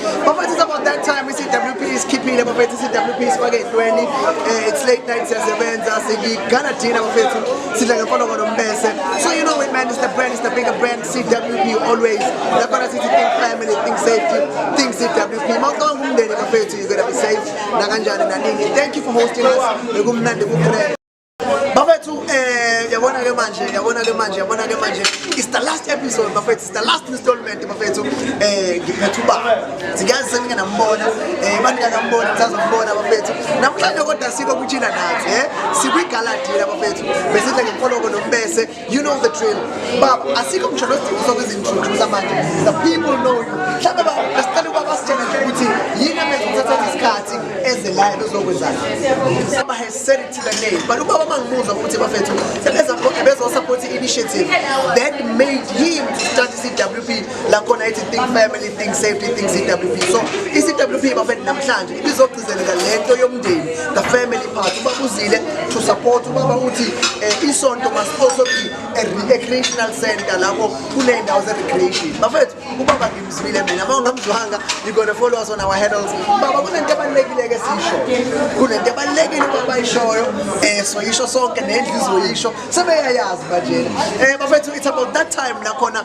Bafethu it's about that time i-CWP isikhiphile bafethu i-CWP isifake ey'ntweni eh, it's late night siyasebenza sigigana thina bafethu sidla ngemfologo nombese so you know it man it's the brand it's the bigger brand CWP always laphana sithi think family think safety think CWP mawucabanga umndeni bafethu you're gonna be safe nakanjani naningi thank you for hosting us bekumnandi kugrand bafethu um eh, yabona ke manje yabona ke manje yabona ke manje it's the last episode bafethu it's the last installment bafethu um eh, ngiphetha uba ngiyazi senike nambona um eh, banika nambona ngisazambona bafethu namhlanje kodwa sikho kuchila nathi um sikwigaladila bafethu besidla ngemfoloko nokubese You know the drill. Baba, asikho ngisho nesidingo sokuzintroduce manje. The people know you. Mhlawumbe ba besicela ukuba basitshele nje ukuthi yini emenza ukuthatha isikhathi eze la ebezokwenzani. Saba has said it to the name. But ubaba mangimuzwa ukuthi bafethu sebeza konke bezo support initiative that made him to start CWP la khona ithi think family, think safety, think CWP. So iCWP bafethu namhlanje ibizo ngalento yomndeni the family part ubaba uzile to support ubaba uthi eh, isonto must also be a recreational center lapho kuney'ndawo ze-recreation bafethu ubaba ngimzwile mina ma ungamzwanga you gonna follow us on our handles baba kunento ebalulekile-ke siyisho kunento ebalulekile ubaba ayishoyo um eh, soyisho sonke nendlu izoyisho sebeyayazi banjena um eh, bafethu it's about that time nakhona